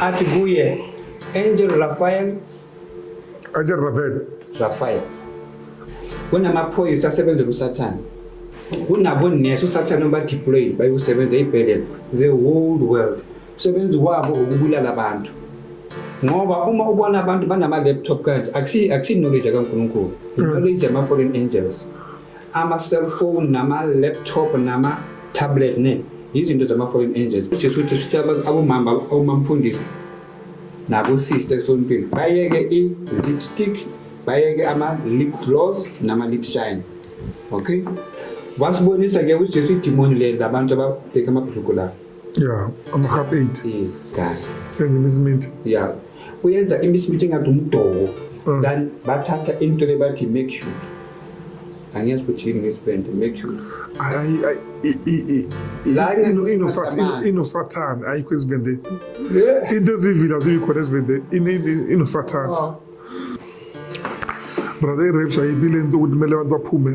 athi kuye Angel Raphael Angel Raphael Raphael kunamaphoyisa asebenzela usathane kunabonesi usathane obadeployed bayosebenza ey'bhedlela the whole world umsebenzi wabo ukubulala abantu ngoba uma ubona abantu banama-laptop kanje akusi-knowledge kankulunkulu i-knowledge yama-foreign angels ama-cellphone nama-laptop nama-tablet ne yizinto zama-foreign angels kusho ukuthi sithi abomama abomamfundisi nabosista esontweni bayeke i-lipstick bayeke ama-lip gloss nama-lip shine okay wasibonisa ke ujesu idimoni le labantu ababheke amabhuluku la ya ama-hap eight kahle enza imiziminti ya uyenza imisimithi engathi umdoko mm. than bathatha into le bathi mercury angiyazi ukuthi yini ngesibende mercury inosathane ayikho ezibendeni into ezivila zibi khona ezibendeni inosathane ah. brother irapes ayibile into ukuthi kumele abantu baphume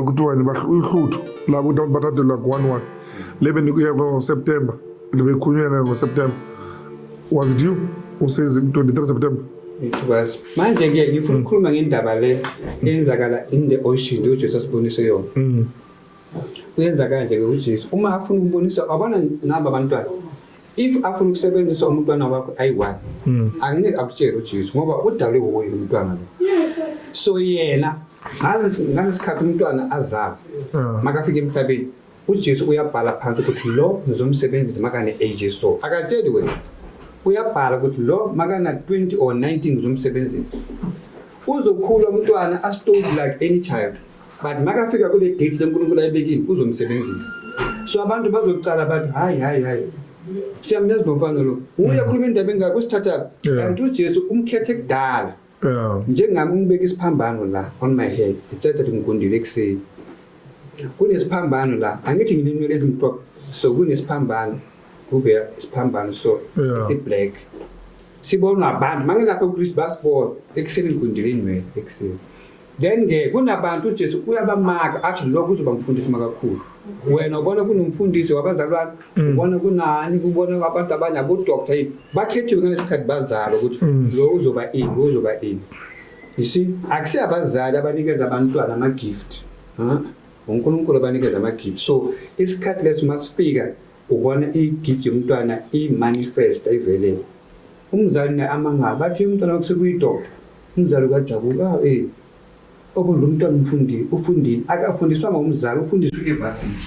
kuthiwani uhluthu labo ukuthi abantu bathathelwa ngo-one one le bendikuye ngoseptemba Libekhulunywa naye ngoSeptember. Was it you who says 23 September? Ngikwazi. Manje ke ngifuna ukukhuluma ngendaba le eyenzakala in the ocean nje uJesu asibonise yona. Mm. Uyenza kanje ke uJesu. Uma afuna ukubonisa abana naba abantwana. If afuna ukusebenzisa umntwana wakho ayi-one mm. angeke akutshele uJesu ngoba udalwe wuye lo mntwana lo. So yena ngalesikhathi umntwana azalwa makafika emhlabeni UJesu uyabhala phansi ukuthi lo ngizomsebenzisa makane age so. Akatsheli wena. Uyabhala ukuthi lo makana 20 or 19 ngizomsebenzisa. Uzokhula umntwana as told like any child. But makafika kule date leNkulunkulu ayibekile uzomsebenzisa. So abantu bazocala bathi hayi hayi hayi siyamyazi nomfana lo uye akhuluma indaba engaka usithatha kanti uJesu umkhethe kudala Yeah. Njengami ngibeka isiphambano la on my head. Ngicela ukuthi ngigundile ekuseni. Kunesiphambano la. Angithi ngilinwele ezimhlophe. So kunesiphambano. Kuvela isiphambano so yeah. si black. Sibonwa abantu mangilapha uChris basibona ekuseni ngigundile inwele ekuseni. Then ke kunabantu uJesu uyabamaka athi lokho uzoba mfundisi makakhulu. Wena ubona kunomfundisi wabazalwane, mm. ubona kunani, ubona abantu abanye abo doctor yini. Bakhethiwe ngalesikhathi bazalo ukuthi mm. lo uzoba ini, lo uzoba ini. You see, akusi abazali abanikeza abantwana ama gift. Ha? uNkulunkulu abanikeza ama gift. So isikhathi leso masifika ubona i gift yomntwana i manifest ivelele. Umzali naye amangala bathi umntwana okusukuyi doctor Umzali kajabula ah, eh okondla umntwana umfundile ufundile akafundiswanga umzali ufundiswa ivasile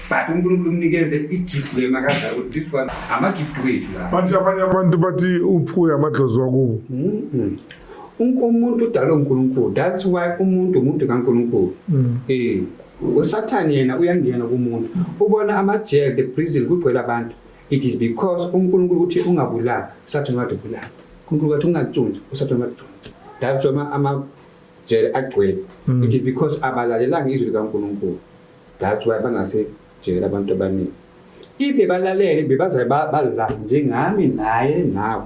but unkulunkulu umnikeze igift le makazala ukuthi this one amagift wethu la manje abanye abantu bathi uphuye amadlozi wakubo mm-hmm. umuntu udalwe unkulunkulu that's why umuntu umuntu kankulunkulu mm. eh usathane yena uyangena kumuntu ubona amajele the prison kugcwele abantu It is because uNkulunkulu uthi ungabulali, usathane wathi ubulala. UNkulunkulu wathi ungacunzi, usathane wathi cunzi. That's why ama jele agcwele. Mm. It is because abalalelanga izwi likaNkulunkulu. That's why bangase jele abantu abaningi. If bebalalele bebaze balala njengami naye nawe.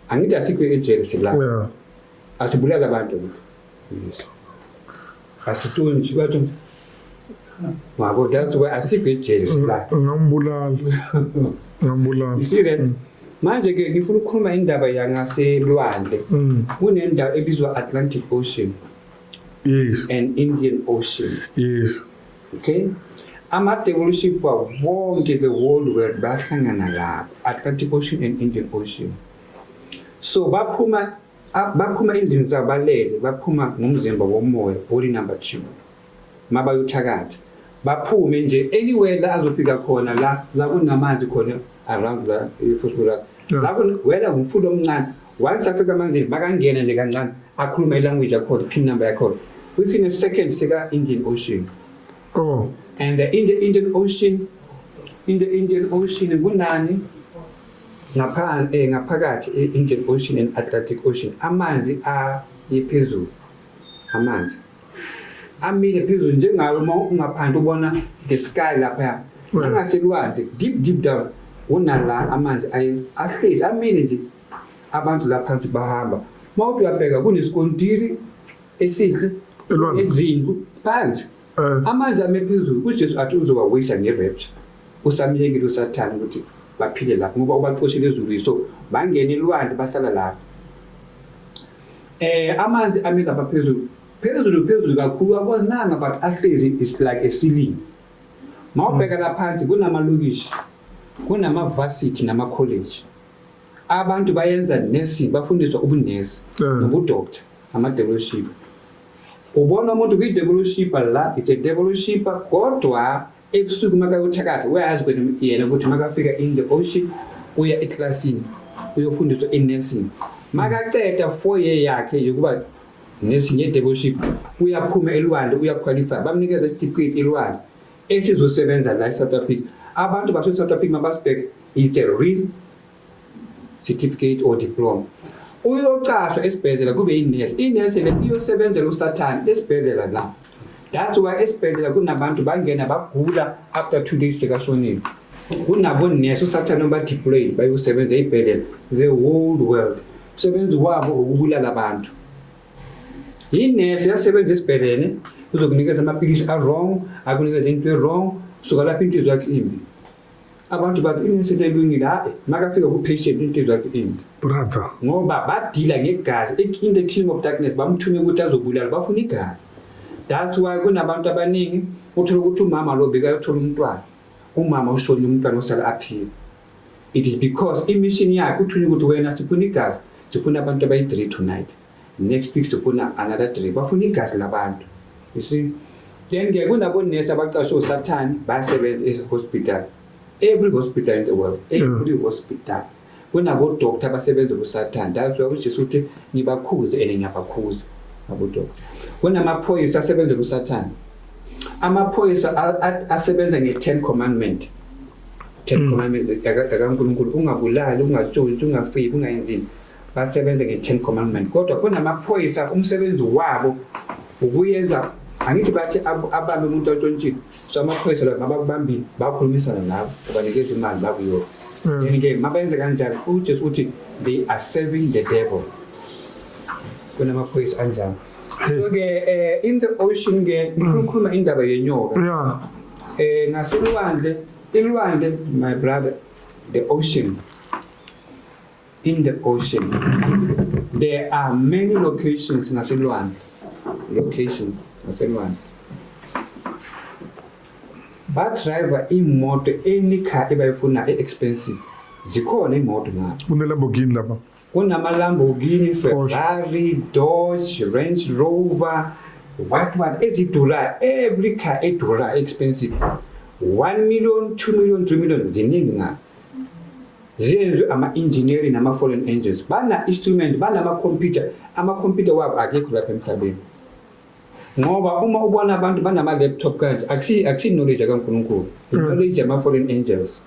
Angithi asikho ejele silala. Asibulala abantu. asituli nje bathi ngabo that's why asikho ejele sila ngambulala ngambulala you see that manje ke ngifuna ukukhuluma indaba yangaselwandle mm. kunendawo ebizwa Atlantic Ocean yes and Indian Ocean yes okay ama-devolution kwawo wonke the world world bahlangana lapho atlantic ocean and indian ocean so baphuma Ab- baphuma endlini zabo balele baphuma ngomzimba womoya body number two mabayothakatha baphume nje anywhere la azofika khona la la kunamanzi khona around la ephosphorus Yeah. la kun- wena ngumfundi omncane once afika amanzini makangena nje kancane akhuluma ilanguage yakhona pin number yakhona within a second seka-indian ocean oh and the Indian, Indian Ocean, in the Indian Ocean, kunani Eh, ngaphakathi e-indian ocean and atlantic ocean amanzi ayephezulu amanzi amile phezulu njengawe uma ungaphandle ubona the sky laphaya angaselwandle deep deep down unala amanzi ahlezi amile nje abantu la phansi bahamba uma uthi uyabheka kunesikontiri esihle ezindlu phansi Eh. amandla ame phezulu ujesu athi uzowawisa nge-rapture usamyekile usathane ukuthi baphile lapho ngoba ubaxoshele ezulwini so bangena ilwandle bahlala lapho eh amanzi ame lapha phezulu phezulu phezulu kakhulu abonanga but ahlezi is like a ceiling mawubheka la phansi kunamalokishi kunamavasithi namakholeji abantu bayenza nursing bafundiswa ubunesi Eh. nobudokta amadeloship Ubona umuntu kwi-devolushipper la, it's a devolushipper kodwa ebusuku makayothakatha uyayazi ukuthi yena ukuthi makafika in the ocean uya eklasini uyofundiswa i-nursing makaceda four year yakhe yokuba nursing ye-devoluship uyaphuma elwandle uyakhwalifya bamnikeza isitifiketi elwandle esizosebenza la e-south africa abantu base-south africa mabasibheke it's a real certificate or diploma uyocashwa esibhedlela kube inesi inesi le iyosebenzela usathane esibhedlela la that's why esibhedlela kunabantu bangena bagula after two days sekashonile kunabonesi usathane obadeployed bayosebenza ey'bhedlela the whole world umsebenzi wabo ukubulala abantu yinesi yasebenza esibhedlele uzokunikeza amapilisi a-wrong akunikeza into e-wrong suka lapho inhliziyo yakho imbi abantu bathi inensi lelungile hayi makafika ku-patient intizwa into brother ngoba badila ngegazi in the kingdom of darkness bamthume ukuthi azobulala bafuna igazi that's why kunabantu abaningi uthola ukuthi umama lo bekayothola umntwana umama usonye umntwana osala aphila it is because imission yakhe uthunywa ukuthi wena sifuna igazi sifuna abantu abayi-three tonight Next week sifuna another drink. Bafuna igazi labantu. You see? Then ke kunabo nurse abaqashwe usathane bayasebenza e hospital. Every hospital in the world, every yeah. hospital. Kunabo doctor abasebenza usathane. That's why uJesu uthi ngibakhuze and ngiyabakhuza. Abo doctor. Kunamaphoyisa asebenza usathane. Amaphoyisa asebenza nge 10 commandment. Ten mm. commandments zikaNkulunkulu ungabulali, ungatshontsha, ungafiki, ungayenzini. basebenze nge-ten commandment kodwa kunamaphoyisa umsebenzi wabo ukuyenza angithi bathi abambe umuntu otshontshile so amaphoyisa la mabakubambile bakhulumisana nabo ubanikeza imali bakuyona mm. yeni ke mabenze kanjani ujesu uthi they are serving the devil kunamaphoyisa anjalo so-ke eh, in the ocean ke mm. ngikhuluma indaba yenyoka um eh, ngaselwandle ilwandle my brother the ocean in the ocean. There are many locations naselwandle. Locations naselwandle. Badriver imoto any car ebayifuna e-expensive. Zikhona imoto ngapha. Kunelamborghini lapha. Kunamalamborghini, Ferrari, Dodge, Range Rover, what what ezidurayo. Every car edurayo expensive. 1 million, 2 million, 3 million ziningi ngapha. ziyenzwe ama-engineering nama-fallen angels bana-instrument banama-computer ama-computer wabo akekho lapha emhlabeni ngoba uma ubona abantu banama-laptop kanje akusiyi-knowledge akankulunkulu mm. i-knowledge yama-fallen angels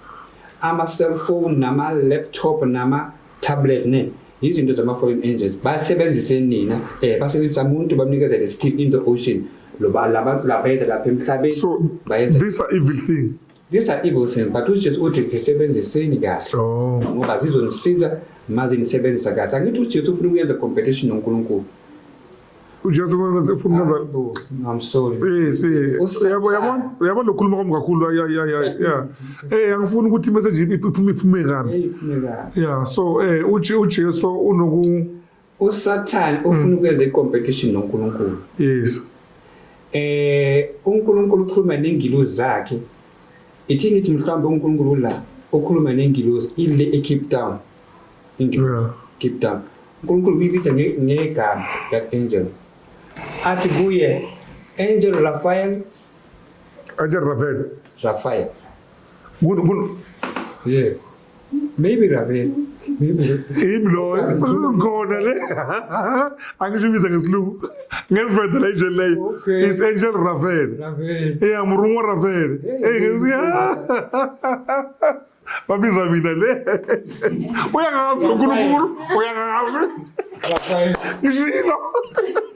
ama-cellphone nama-laptop nama-tablet ne yizinto zama-fallen angels basebenzise nina um basebenzisa muntu bamnikeza le skill in the ocean labayeza lapha emhlabeni so these are evil thing These are evil things but uJesu uthi zisebenziseni kahle oh. ngoba zizonisiza maze nisebenzisa kahle angithi uJesu ufuna ukuyenza competition noNkulunkulu uJesu ufuna ukwenza I'm sorry eh si yabo yabo yabo lokhuluma kwami kakhulu ya ya ya ya eh angifuni ukuthi message iphume iphume kabi yeah so eh uJesu unoku uSathane ufuna hmm. ukwenza i-competition noNkulunkulu. Yes. Eh uNkulunkulu ukhuluma nengilozi zakhe. Ithi ngithi mhlawumbe uNkulunkulu la ukhuluma nengilozi ile eCape Town. Ingilozi Cape Town. uNkulunkulu uyibiza ngegama that angel. Athi kuye Angel Raphael. Angel Raphael. Raphael. Good good. Yeah. Maybe Ravel. Yimi loyo ngona le angisho ibiza ngesilungu ngesivenda la injeli leyo Okay. is angel ravel Ravel. eya murungo ravel Hey, eyi ngesiya babiza mina le uyangazi unkulunkulu uyangazi Rafael. ngishilo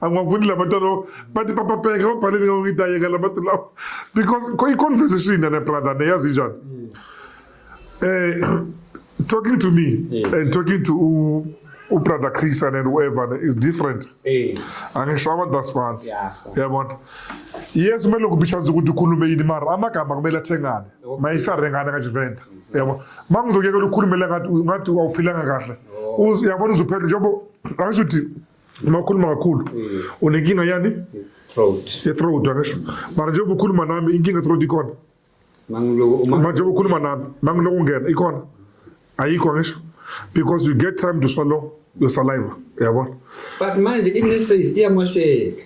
a nga vuli lava tano va tipapapeka va baleni nga ngi ta yeka lava ti lava because i conversation yane brother ne yazi njani mm. eh talking to me yeah. and talking to u brother Chris and whoever is different eh angishawa that's one yeah yabona yes kumele ukubicha nje ukuthi ukhulume yini mara amagama kumele athengane mayifare ngane ka Juventa mm-hmm. yabo mangizokuyeka ukukhulumela ngathi ngathi awuphilanga kahle oh. uyabona uzophela njengoba angisho ukuthi Makuluma kakhulu. Mm. Unenkinga yani? Throat. Ye throat angisho. Mara njengoba ukhuluma nami inkinga throat ikhona. Manje ukhuluma nami, mangiloko ungena ikhona. Ayikho angisho. Because you get time to swallow your saliva. Yabona? But manje i-message iyamosheka.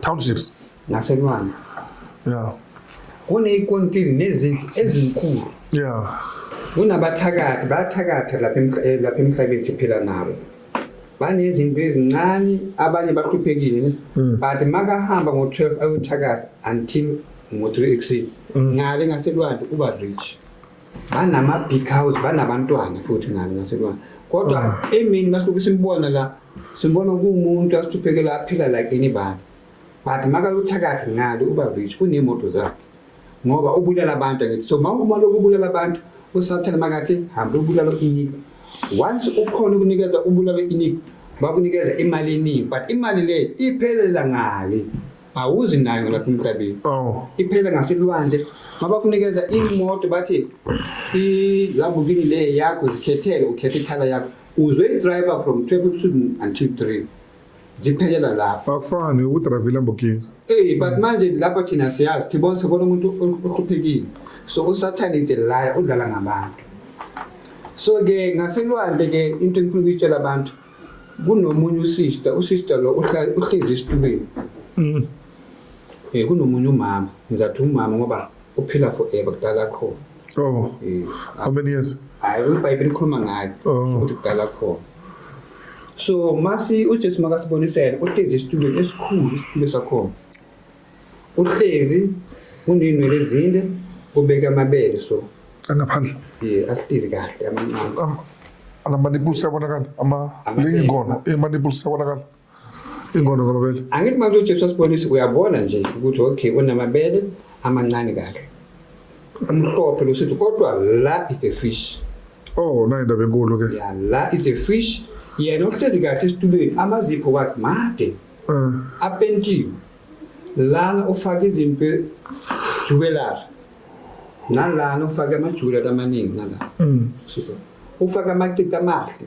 townships naselwandle yeah kuneyikontiri nezindlu ezinkulu yeah kunabathakathi bayathakatha lapha eh, lapha emhlabeni siphila nabo banezinto ezincane abanye bahluphekile ne hmm. but makahamba ngo-12 ayothakatha until ngo-3 ekuseni hmm. ngale ngaselwandle uba rich banama big house banabantwana futhi nani naselwana kodwa ah. emini masibuke simbona la simbona kuwumuntu asithuphekela aphila like anybody but makayothakathi ngale uba rich kunemoto zakhe ngoba ubulala abantu ngithi so mawuma lokubulala abantu usathane makathi hamba ubulala inik once ukhona ukunikeza ubulala inik bakunikeza imali eningi but imali le iphelela ngale awuzi nayo lapha emhlabeni oh iphela ngaselwandle mabakunikeza imoto bathi ilamborghini le yakho zikhethele ukhethe ikhala yakho uzwe i-driver from 12 until 3 ziphelela lapho akufani ukudrayiva ilamborghini Hey but manje lapha thina siyazi thibona sibona umuntu ohluphekile. So usathane nje la udlala ngabantu. So ke ngaselwandle ke into engifuna ukuyitshela abantu kunomunye usister usister lo uhlezi esitubeni mm. eh kunomunye umama ngizathi umama ngoba uphila forever kudala khona oh eh, how many years hayi ibhayibheli likhuluma ngayo oh. ukuthi kudala khona so masi ujesu makasibonisela uhlezi esitubeni esikhulu isitulo sakhona uhlezi unenwele ezinde ubeke amabele so angaphandle ye ahlezi kahle amancane Am- alamanipuli siyabonakala ama Amabele. leyingono imanipuli siyabonakala iy'ngono zamabele angithi manje ujesu asibonise uyabona nje ukuthi okay unamabele amancane kahle umhlophe losithi kodwa la is a fish oh nayo indaba enkulu ke ya la is a fish yena uhlezi kahle esitulweni amazipho wakhe made apentiwe lana ufake izinto juwelara nalana ufake amajuwelara amaningi nala mm. ufake amacita amahle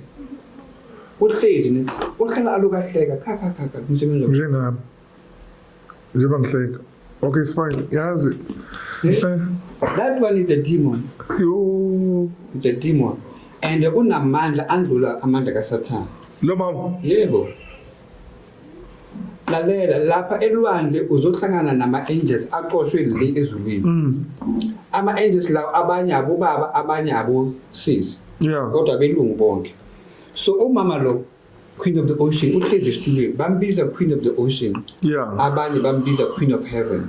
uhlezi ne uhlala alukahleka kha kha kha kha umsebenzi njengami njengoba ngihleka okay it's fine yazi eh? Eh. that one is a demon yo it's a demon and unamandla andlula amandla kasathane lo mama yebo lalela lapha elwandle uzohlangana nama-angels aqoshwe le ezulwini mm. ama-angels lawo abanye abobaba abanye abosisi kodwa belungu bonke so umama lo queen of the ocean uhlezi esitulweni bambiza queen of the ocean abanye bambiza queen of heaven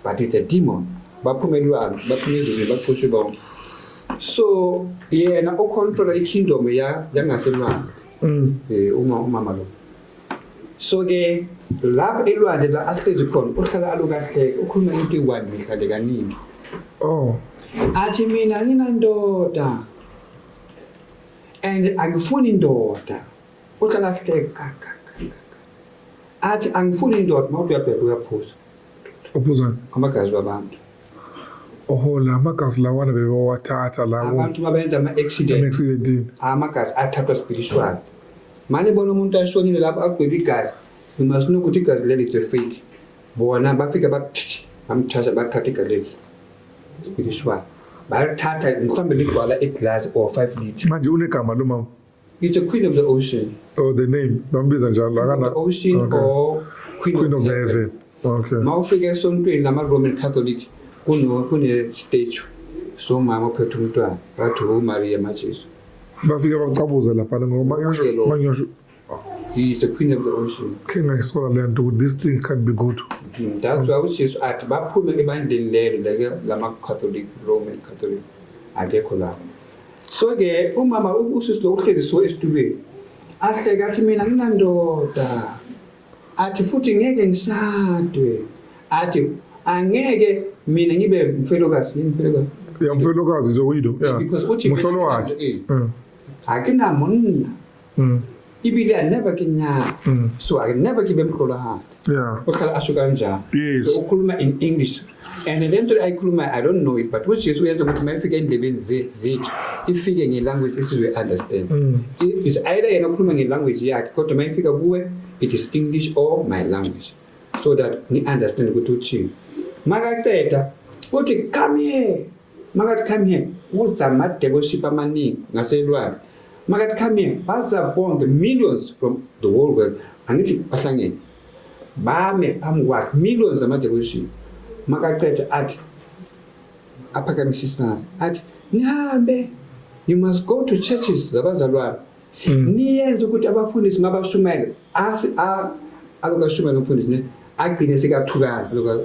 but it's a demon baphume elwandle baphume ezulwini baqoshwe bonke so yena ocontrola ikingdom yangaselwandle Mm. Eh uma umama lo. So ke lapho elwandle la ahlezi khona uhlala alukahleke ukhuluma into iwani mihla le kaningi. Oh. Athi mina nginandoda. And angifuni indoda. Uhlala ahleka kaka. Athi angifuni indoda mawuthi uyabheka uyaphuza. uphuzani amagazi babantu ohola amagazi lawana bebawathatha lawo abantu babenza ama-accident amagazi athathwa spiritual mane bona umuntu ashonile lapho agwebe igazi nomasinokuthi igazi leli it's a fake bona bafike bakuthithi bamthatha bathatha igazi leli spiritual balithatha mhlawumbe ligcwala iglasi or five litre manje unegama lo mama He's the queen of the ocean. Oh, the name. Bambiza njalo. Queen of the ocean okay. or queen, queen of, of the heaven. heaven. Okay. Mawufika esontweni lama Roman Catholic kuno kune statue so mama ophethe umntwana bathi uMaria maJesu. Bafike bakucabuza lapha ngoba ngisho mangisho He is the queen of the ocean. Khe ngayisola le nto ukuthi this thing can't be good. Mm, that's why uJesu athi baphume ebandleni lelo lama Catholic Roman Catholic akekho lapho. so ke umama usisi lo uhlezi so esitulweni ahleke athi mina nginandoda athi futhi ngeke ngishadwe athi angeke mina ngibe mfelokazi yini mfelokazi ya mfelokazi zoyido ya because uthi mhlolo wakhe akinamonna Mm. ibile a never ke nyala Mm. so a never ke bemhlolohadi Yeah. uhlala asho kanjani Yes. So, ukhuluma in english and le nto ayikhulumayo i don't know it but ujesu uyenza ukuthi uma ifika endlebeni ze- zethu ifike ngelanguage esizoyi understand Mm. I- is either yena ukhuluma ngelanguage yakhe kodwa uma ifika kuwe it is english or my language so that ni understand ukuthi uthini makaqeda uthi come here Makathi come here kuza amadevoship amaningi ngaselwandle makathi come here baza bonke millions from the whole world angithi bahlangene bame phambi kwakhe millions amadevoship makaqeda athi aphakamise isandla athi nihambe you must go to churches zabazalwane mm. niyenze ukuthi abafundisi mabashumayele asi a alokashumela umfundisi ne agcine sekathukana lokho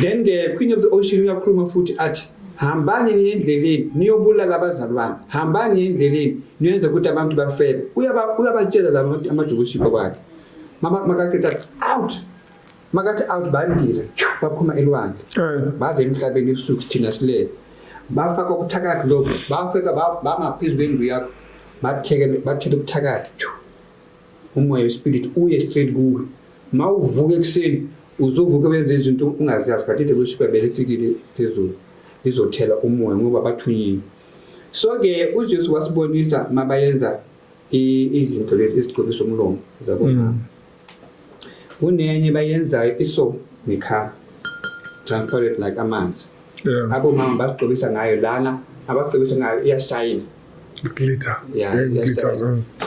Then the Queen of the Ocean uyakhuluma futhi athi hambani niye endleleni niyobulala abazali bami hambani niye endleleni niyenze ukuthi abantu bafebe uyabatshela la amajukushipha kwakhe makaqeda out makathi out bandize baphuma elwandle eh. baze emhlabeni ebusuku thina silele bafaka ubuthakathi lobo bafika bama phezu kwendlu yakho bathele ubuthakathi umoya wespirit uye straight kuwe ma uvuka ekuseni uzovuka benze izinto ungaziyazi but the worship bele fikile phezulu izothela umoya ngoba bathunyiwe so ke uJesu wasibonisa mabayenza izinto lezi isigcobisa umlomo zabo mm. kunenye bayenzayo iso nikha transparent like amanzi abo mama basigcobisa ngayo lana abagcobisa ngayo iyashayina glitter yeah, yeah, glitter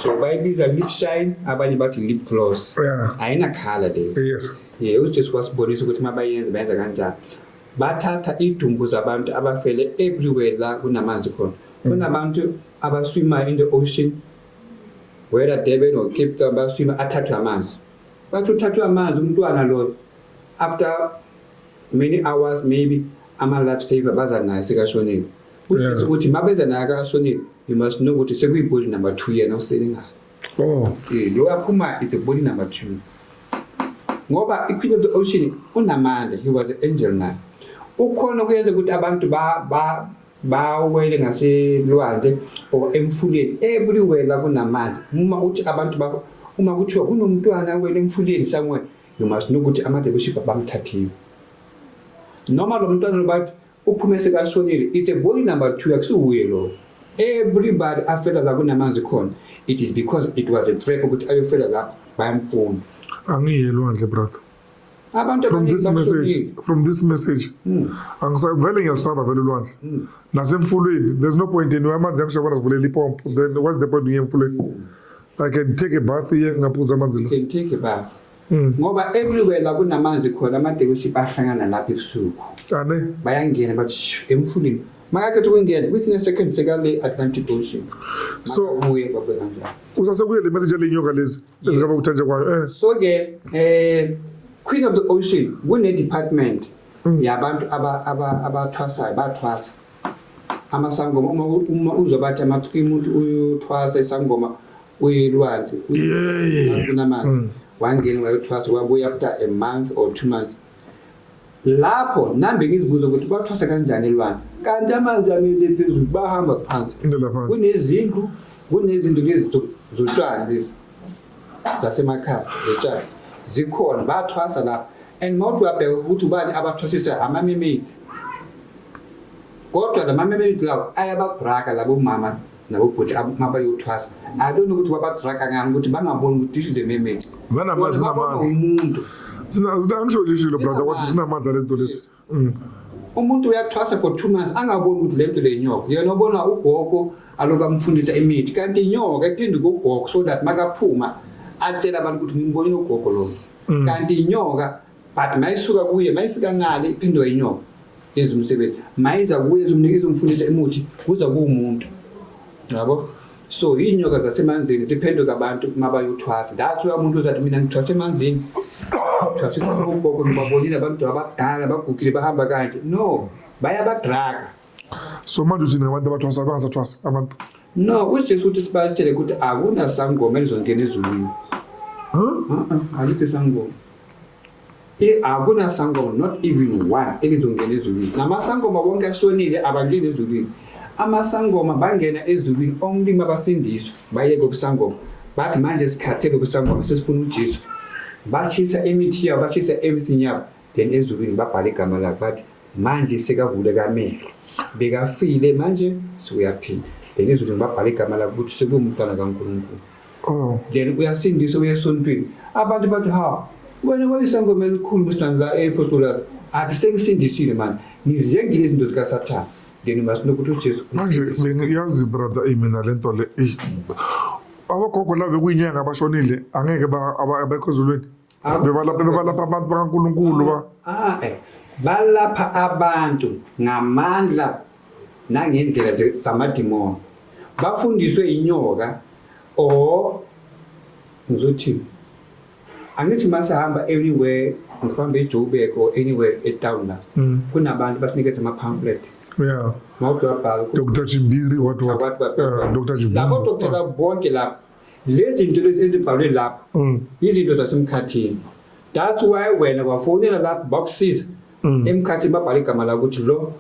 so bayibiza lip shine abanye bathi lip gloss yeah. ayina khala leyo yes yeah, ujesu wasibonisa ukuthi uma bayenze bayenza kanjani bathatha idumbu zabantu abafele everywhere la kunamanzi khona mm. kunabantu abaswimayo in the ocean whether Durban or Cape Town baswima athathwe amanzi bathi uthathwe amanzi umntwana loyo after many hours maybe ama-life saver baza naye sekashonile Uthi ukuthi mabeza naye akasonile you must know ukuthi sekuyibody number 2 yena usele ngayo. Oh. Eh lo yaphuma it's a body number 2. Ngoba iQueen of the Ocean unamandla he was an angel naye. Ukhona ukuyenza ukuthi abantu ba ba bawele ngaselwandle or emfuleni everywhere la kunamanzi uma uthi abantu ba uma kuthiwa kunomntwana wena emfuleni somewhere you must know ukuthi amadebeship bamthathiwe noma lo mntwana lobathi Uphume sekashonile. It's a body number two akusuwuye lo. Everybody afela la kunamanzi khona. It is because it was a trap ukuthi ayofela lapho bayamfuna. Angiye lwandle brother. Abantu from this message from this message hmm. angisavele ngiyasaba vele lwandle hmm. nasemfulweni there's no point in amanzi angishabona sivulela ipompo then what's the point ngiye emfulweni hmm. I can take a bath here ngaphuza amanzi la. Can take a bath. Mm. ngoba everywhere la kunamanzi khona amadealership ahlangana lapha ebusuku abe bayangena bathi emfuleni makakhetha ukungena kwesinye second sekale Atlantic Ocean so uye babe kanjalo usase kuye le message lenyoka lezi ezingaba kuthanje kwayo eh so ke eh Queen of the Ocean kune department mm. yabantu aba aba abathwasayo bathwasa amasangoma uma uzobathi amathi umuntu uyothwasa isangoma uyilwandle kunamanzi mm. wangena wayothwasa wabuya after a month or two months lapho nambe ngizibuza ukuthi bathwasa kanjani elwandle kanti amanzi amile phezulu bahamba phansi kunezindlu kunezinto lezi zotshwala lezi zasemakhaya zotshwala zikhona bathwasa lapho and mawuthi uyabheka ukuthi ubani abathwasisa amamemedi kodwa la mamemedi lawo ayabadraka labo mama nabo bhuti mabayothwasa i don't know ukuthi babadraga ngani ukuthi bangaboni ukuthi this is a mermaid umuntu angisho lishilo brother wathi zinamandla lezinto lezi mm. umuntu uyathwasa for two months angaboni ukuthi le nto le nyoka yena obona ugogo aloku amfundisa imithi kanti inyoka ephinde kugogo so that makaphuma atshela abantu ukuthi ngimbonile ugogo lona mm. kanti inyoka but mayisuka kuye mayifika ngale iphindwe inyoka yenza umsebenzi mayiza kuye izomnikeza umfundisa emuthi kuza kuwumuntu yabo so iy'nyoka zasemanzini ziphenduka abantu uma bayothwasa that's why umuntu uzathi mina ngithwasa emanzini thwasa ugogo nobabonile abantu abadala bagugile bahamba kanje no bayabadraga so manje uthini ngabantu abathwasa abangasathwasi abantu no ujesu uthi sibatshele ukuthi akunasangoma elizongena ezulwini alikho isangoma akunasangoma not even one elizongena ezulwini namasangoma bonke ashonile abangeni ezulwini amasangoma bangena ezulwini omlimi abasindiswe bayeke ubusangoma bathi manje sikhathele ubusangoma sesifuna ujesu bashisa imithi yabo bashisa everything yabo then ezulwini babhala igama lakhe bathi manje sekavuleka amehlo bekafile manje sewuyaphila then ezulwini babhala igama lakhe ukuthi sekuwumntwana kankulunkulu oh. then uyasindisa uye esontweni abantu bathi ha wena wayisangoma elikhulu mhlangula ephostolazi athi sengisindisile manje ngiziyengile izinto zikasathane then masinokuthi ujesu manje bengiyazi brother imina le nto le abagogo labo kuyinyanga abashonile angeke abekho ezulwini Ah, bebalapha bebalapha abantu bakaNkulunkulu ba ah, eh. balapha abantu ngamandla nangendlela ze- zamadimoni bafundiswe inyoka or ngizothi angithi uma sihamba anywhere ngifambe ejoburg or anywhere etown la Mm. kunabantu basinikeza ama-pamphlet yeah mawuthi wabhala ukuthi Dr Chimbiri what what Abantu ba- Yeah, Dr Chimbiri labo dokotela bonke lapho lezi zinto lezi ezibhalwe lapho mm. izinto zasemkhathini that's why wena wafonela lapho bakusiza mm. emkhathini babhala igama la ukuthi lo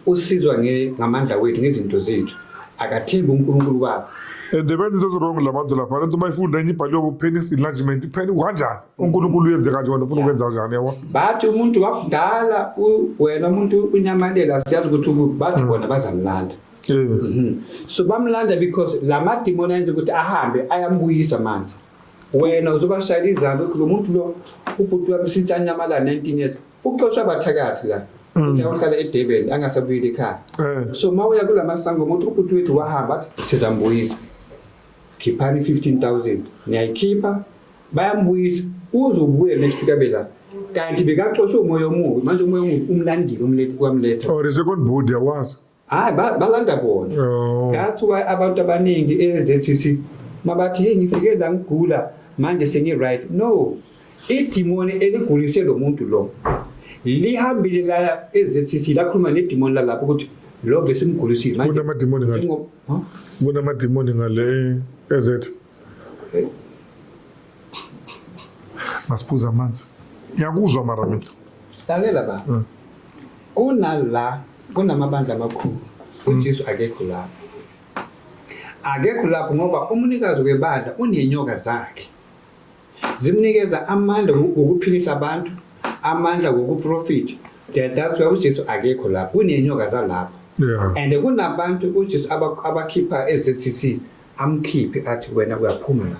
usizwa ngamandla wethu ngezinto zethu akathembi unkulunkulu wakho and the bento ezirong la bantu lapha lento uma ifunda enye ibhaliwe bo-penis enlargement ipheni kanjani unkulunkulu uyenze kanje wena ufuna ukwenza kanjani yabo bathi umuntu wakudala wena umuntu unyamanela siyazi ukuthi bathi mm. bona bazamlanda Mhm. so bamlanda because la madimoni ayenza ukuthi ahambe ayambuyisa manje wena uzobashayela izandla ukuthi lo muntu lo ubhuti wami since anyamalala 19 years uxoshwe abathakathi la ukuthi uhlala edurban angasabuyeli ekhaya Eh. so ma uya kula masango umuntu ubhuti wethu wahamba athi sizambuyisa khiphani 15000 niyayikhipha bayambuyisa uzobuya next week abe la kanti bekaxoshwe umoya omubi manje umoya omubi umlandile umlethe kwamletha Or is it on board yawazi? hayi balanda kona oh. that's why abantu abaningi eZCC mabathi hey ngifike la ngigula manje sengi right no idimoni eligulise lo muntu lo lihambile la eZCC lakhuluma nedimoni lalapho ukuthi lo besimgulisile manje kunamadimoni ngale kunamadimoni ngale ezethu masiphuza amanzi ngiyakuzwa mara mina lalela ba hmm. kunala kunamabandla amakhulu hmm. ujesu akekho lapho akekho lapho ngoba umunikazi webandla unenyoka zakhe zimnikeza amandla wokuphilisa abantu amandla wokuprofitha that's why ujesu akekho lapho kunenyoka zalapho and kunabantu ujesu abakhipha e-zcc amkhiphe athi wena uyaphuma la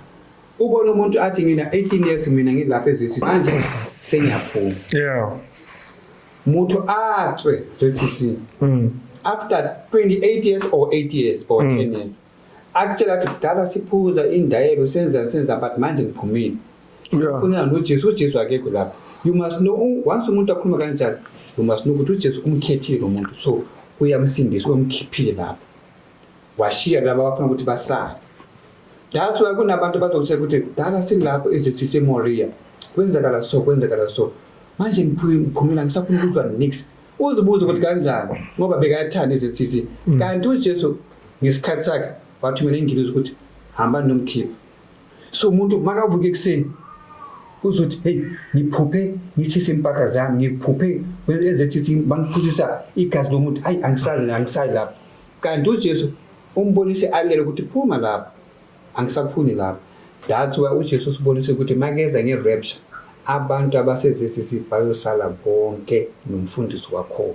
ubona umuntu athi ngina 18 years mina ngilapha ezithi manje sengiyaphuma yeah muthu atswe sesisi mm after 28 years or 8 years or mm. 10 years akutshela ukuthi kudala siphuza indayelo senza senza but manje ngiphumile sifunela nojesu ujesu akekho lapho you must know once umuntu akhuluma kanjalo you must know ukuthi ujesu umkhethile lo muntu so uyamsindisa uyamkhiphile lapho washiya laba abafuna ukuthi basale that's why kunabantu abazokutheka ukuthi dala silapho ezithi semoria kwenzakala so kwenzakala so manje ngiphumela ngisafuna ukuzwa nix uzibuze ukuthi kanjani ngoba bekayathanda izinsisi mm. kanti ujesu ngesikhathi sakhe wathumela ingilozi ukuthi hamba nomkhipha so umuntu makavuka ekuseni uzothi heyi ngiphuphe ngithise impahla zami ngiphuphe ezethi bangiphuzisa igazi lomuntu ayi angisazi angisazi lapho Kanti uJesu umbonise alele ukuthi phuma lapha angisafuni lapha. That's why uJesu usibonise ukuthi makeza nge-rapture abantu abasezesisi bayosala bonke nomfundisi wakhona.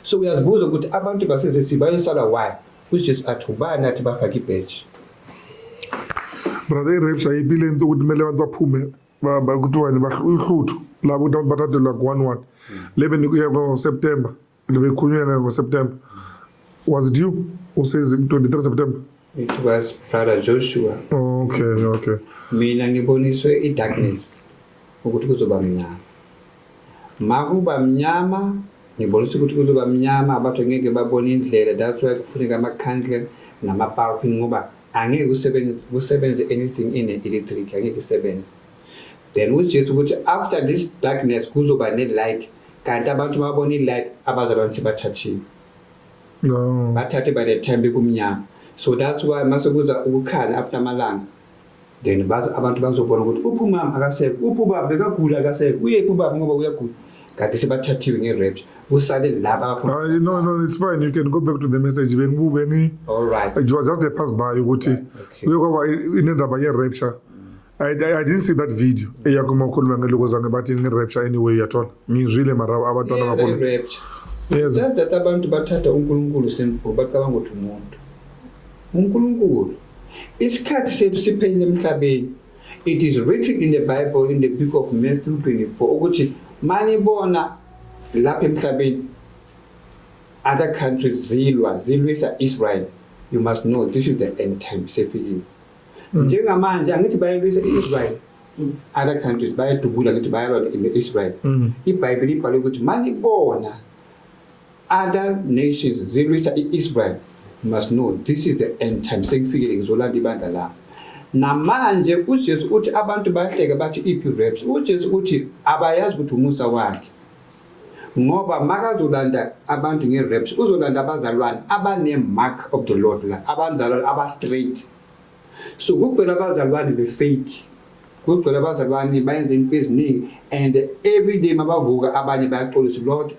So uyazibuza ukuthi abantu basezesisi bayosala why? UJesu athi ubani athi bafake ibheji. Brother i-rapture ayiphi le nto ukuthi kumele abantu baphume kuthiwani uhluthu labo ukuthi abantu bathathelwa ku-one one lebe nikuya ngo-september Libekhulunyana ngoSeptember. Was it you who says 23 September? It was brother Joshua. Oh, okay, okay. Mina ngiboniswe i-darkness ukuthi kuzoba mnyama. Makuba mnyama ngibonisa ukuthi kuzoba mnyama abantu ngeke babone indlela that's why kufuneka ama-candle nama-parking ngoba angeke kusebenze anything ine-electric angeke isebenze then uJesu ukuthi after this darkness kuzoba ne-light kanti abantu babona i-light abazalwa ngithi bathathiwe no. bathathe by the time bekumnyama so that's why mase kuza ukukhala after amalanga then bazi abantu bazobona ukuthi uphi umama akasekho uphi ubaba bekagula akasekho uyephi ubaba ngoba uyagula kanti sebathathiwe nge-raps kusale laba hayi ah, no no it's fine you can go back to the message bengibubengi it was just a pass by ukuthi uyokwaba inendaba ye-rapture I, I didn't see that video eyakuma ukhuluma ngeloko zange bathi ngi-rapture anyway uyathola ngizwile mara abantwana bakhona yes. just that abantu bathatha unkulunkulu simple bacabanga ukuthi umuntu unkulunkulu isikhathi sethu siphelile emhlabeni it is written in the bible in the book of matthew 24 ukuthi manibona lapha emhlabeni other countries zilwa zilwisa israel you must know this is the end time sefikile Mm. njengamanje angithi bayalwisa i-israyeli mm. other countries bayadubula ngithi bayalwa ne-israyeli mm. ibhayibheli ibhalwe ukuthi manibona other nations zilwisa i-israyeli must know this is the end time sekufikile ngizolanda ibandla lami namanje ujesu uthi abantu bahleke bathi iphi raps ujesu uthi abayazi ukuthi umusa wakhe ngoba makazolanda abantu nge-raps uzolanda abazalwane abane-mark of the lord la abanzalwane aba-straight so kugcwele abazalwane be-fake kugcwele abazalwane bayenza into eziningi and every day mabavuka abanye bayaxolisa lord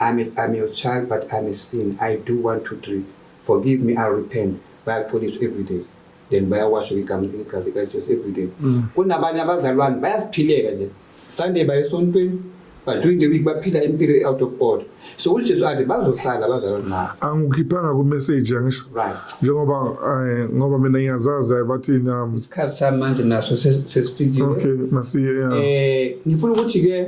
I'm a, I'm your child but I'm a sin I do one two three forgive me I repent bayaxolisa every day then bayakwasho igama igazi likaJesu everyday mm. kunabanye abazalwane bayasiphilela nje Sunday baye esontweni but during the week baphila impilo e-out of order so ujesu athi bazosala abazalwane nabo angikhiphanga kumessage angisho right njengoba eh, ngoba mina ngiyazazi eh, bathini um, isikhathi sami manje naso sesifikile okay masiye eh ngifuna ukuthi-ke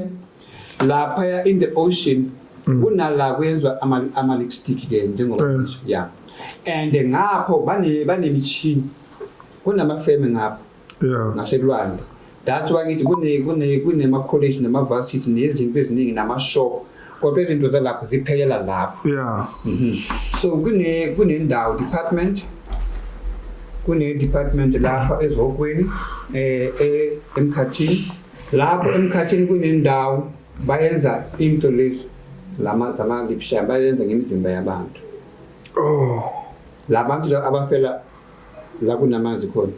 laphaya in the ocean mm. kunala kuyenzwa ama-lipstick ke njengoba eh. ya and ngapho banemishini kunamafeme ngapho ngasekulwandle that's why ngithi kunema-college nama-varsity nezinto eziningi nama-shop kodwa izinto zalapho ziphelela lapho yeah. mm -hmm. so kunendawo kune department kune-department lapha ezihokweni um eh, eh, emkhathini lapho emkhathini kunendawo bayenza into lezi lama zamangipsha bayenza ngemizimba yabantu oh labantu abafela la kunamanzi khona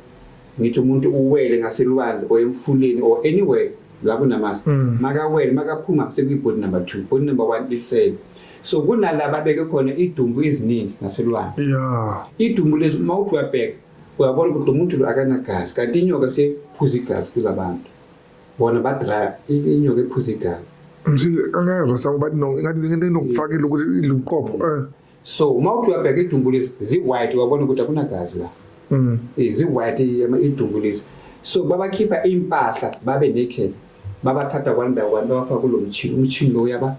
ngithi umuntu uwele ngaselwandle or emfuleni or anywhere la kunamanzi mm. makawele makaphuma sekuyibhodi number 2 bhodi number 1 isele so kunalaba beke khona idumbu iziningi ngaselwandle yeah idumbu lezi mawuthi uyabheka uyabona ukuthi lo muntu lo akanagazi kanti inyoka sephuza igazi kula bantu bona badraya inyoka ephuza igazi angezwa sango bathi no ingathi inokufakela ukuthi idla ubuqopho eh. so uma uthi uyabheka idumbu lezi zi-white uyabona ukuthi akunagazi la mm. eh, zi-white idumbu lezi so babakhipha iy'mpahla babe naked babathatha kwandawo kwanto bafaka kulo mchini umchini lo uyaba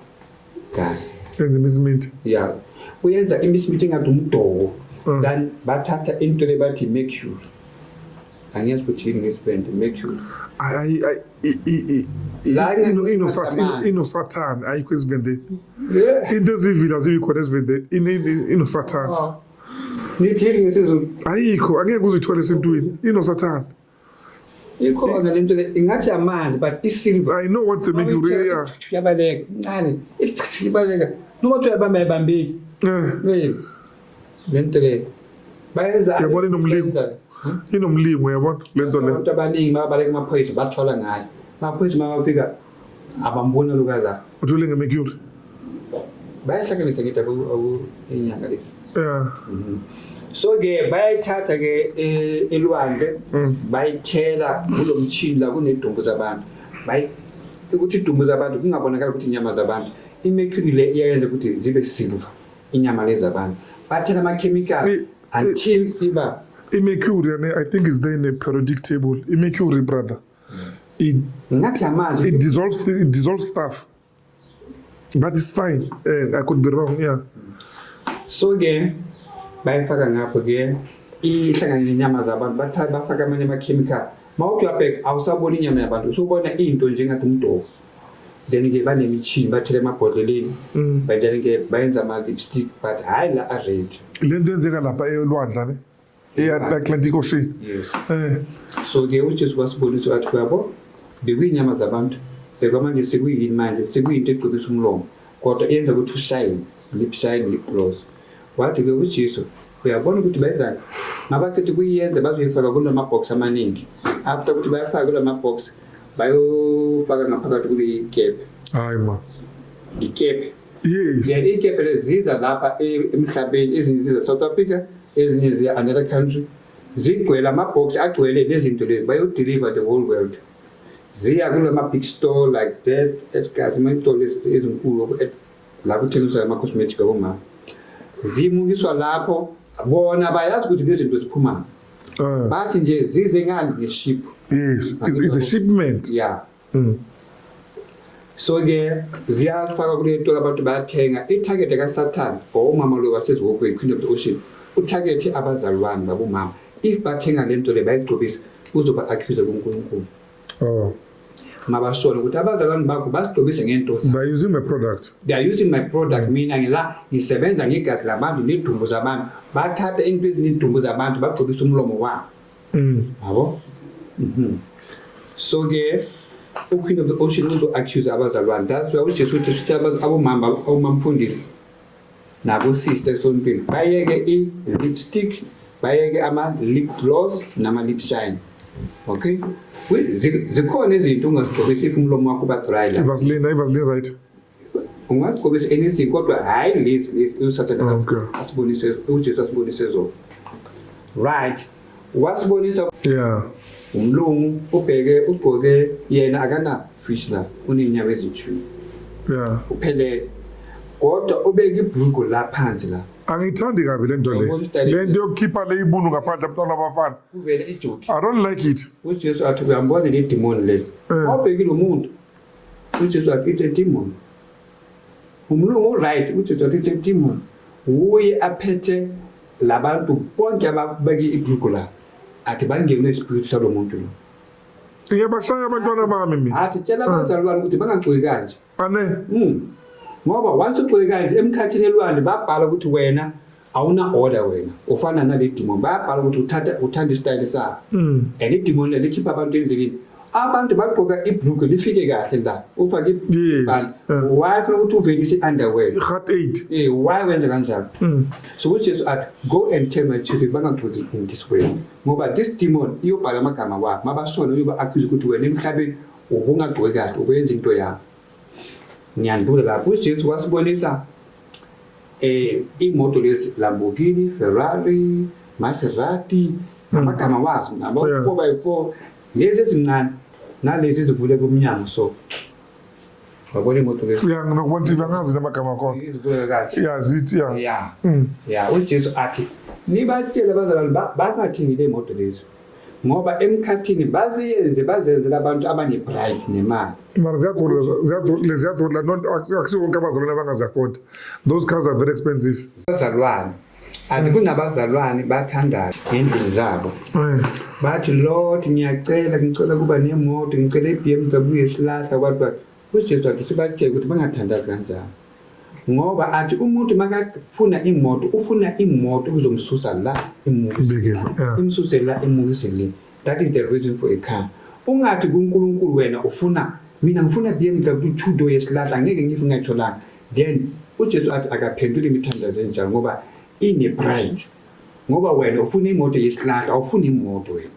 guy enza imisimithi ya uyenza imisimithi engathi umdoko mm. then bathatha into le bathi mercury angiyazi ukuthi yini ngesibende mercury inosathane ayikho ezivendeni into ezivila zibi khona ezivendeni inosathane ah. nithini ngesizulu ayikho angeke uzithole esintwini inosathane ikhona le nto le ingathi amanzi but isilver i know what's the make you yeah yabaleka incane isichithile ibaleka noma kuthiwa yabamba yabambeki eh le nto le bayenza yabona inomlimo hmm? inomlimo yabona le nto le abantu abaningi mabaleka amaphoyisa bathola ngayo amaphoyisa mawafika abamboni oluka la uthule ngemercury bayahlanganisa ngithi inyanga lesi yeah mhm. so ke bayayithatha ke e, elwandle mm. bayithela kulo mchini la kunedumbu zabantu bayi ukuthi idumbu zabantu kungabonakala ukuthi inyama zabantu imercury le iyayenza ukuthi zibe silver inyama lezi zabantu bathela amakhemikhali until iba imercury i think is there in a periodic table imercury brother it, it dissolves it dissolves stuff but it's fine uh, i could be wrong yeah so ke bayifaka ngapho ke ihlangane nenyama zabantu bathatha bafaka amanye amakhemikhali mawuthi uyabheka awusaboni inyama yabantu usubona into njengathi umdoko then ke banemishini bathele emabhodleleni mm. but then ke bayenza ama-lipstick but hhayi la a-red le nto yenzeka lapha elwandla ne eatlantic ocean yes. eh. so ke ujesu wasibonisa wathi uyabo bekuy'nyama zabantu bheka manje sekuyini manje sekuyinto egcobisa umlomo kodwa yenza ukuthi ushayine lip shine lip gloss wathi ke ujesu uyabona ukuthi benzani mabakhetha ukuyenza bazoyifaka kulo mabhox amaningi after ukuthi bayafaka kulo mabhox bayofaka ngaphakathi kule kephe hayi ma ngikephe yes yeah ikephe leziza lapha e- emhlabeni ezinye ziza South Africa ezinye ziya another country zigcwele ama-box agcwele lezinto lezi bayodeliver the whole world ziya kulama big store like that edgas amayitolo ezinkulu la kuthengiswa ama-cosmetic abomama zimukiswa lapho bona bayazi ukuthi lezinto ziphumayo ah. bathi nje zize ngani ngeship yes is a shipment yeah Mm. so ke ziyafaka kule nto abantu bayathenga ithagethi kasathane or umama lo waseziwokwe iqueen of the ocean uthagethi abazalwane babomama if bathenga le nto le bayigqobisa uzoba accuse kunkulunkulu oh. mabasole ukuthi abazalwane bakho basigqobise ngento mina ngila ngisebenza ngegazi labantu nedumbu zabantu bathathe into ezinedumbu zabantu bagqobise umlomo wabo Mm. Yabo? Mhm. So ke uQueen of the Ocean uzo accuse abazalwane. That's why uJesu uthi sithi abaz- abomama abomamfundisi nabo sister esontweni bayeke i lipstick bayeke ama lip gloss nama lip shine. Okay? We- zi- Zikhona izinto ungazigqokisi if umlomo wakho uba dry la. ivaseline ayivaseline right ungagqokisa anything kodwa hhayi lezi lezi usathane Okay. asibonise ujesu asibonise zona right wasibonisa Yeah. umlungu ubheke ugqoke yena akana fish la unenyawo ezithu Yeah. uphelele kodwa ubeke ibhulgo la phansi la Angiyithandi kabi le nto le. Yabona i-style Le nto yokukhipha le ibunu ngaphandle abantwana abafana. kuvele ijoki I don't like it. ujesu athi uyambona le demoni leli Eh. wabhekile umuntu uJesu wathi it's a demon umlungu uright uJesu wathi it's a demon wuye aphethe labantu bonke ababeke ibhuku la athi bangene ispiritu salo muntu lo ngiyabahlaya abantwana bami mina athi tshela abazalwane ukuthi bangagxoki kanje ane mm. ngoba once ugxoki kanje emkhathini elwandle babhala ukuthi wena awuna order wena ufana nale demon bayabhala ukuthi uthatha uthanda isitayile sakho mm. and idemon le likhipha abantu endleleni abantu bagqoka ibhluke lifike kahle la ufake yes. Uh. why funa ukuthi uvelise i-underwear heart aid eh why wenza kanjalo mm. so ukuthi Jesu athi go and tell my children bangagqoki in this way ngoba this demon iyobhala amagama wakho mabasona uyoba accuse ukuthi wena emhlabeni ubungagqoki kahle ubenza into yakho ngiyandula lapho uJesu wasibonisa eh imoto lezi Lamborghini, Ferrari, Maserati amagama wazo nabo Yeah. 4 by 4 lezi ezincane nalezi ezivule kumnyango so wabona imoto lezi ya ngibona ukuthi bangazi namagama akhona izivuleka kahle ya zithi ya ya Mm. ya uJesu athi nibatshele abazalwane ba- bangathengi le moto lezi ngoba emkhathini baziyenze bazenzela abantu abane-bright nemali mara ziyadura ziyadura ziyadura akusiwo wonke abazalwane abangazi-afford those cars are very expensive abazalwane ati mm. kunabazalwane bathandaza ngendlini zabo eh. bathi lord ngiyacela ngicela kuba nemoto ngicela i-b m w yesilahla kwathi UJesu wathi sibatshele ukuthi bangathandazi kanjalo ngoba athi umuntu makafuna imoto ufuna imoto ukuzomsusa la imsuse la imukise le that is the reason for a car ungathi kuNkulunkulu wena ufuna mina ngifuna BMW two door yesilahla ngeke ngithi ngayitholanga then uJesu athi akaphenduli imithandazo enjalo ngoba ine pride ngoba wena ufuna imoto yesilahla awufuni imoto wena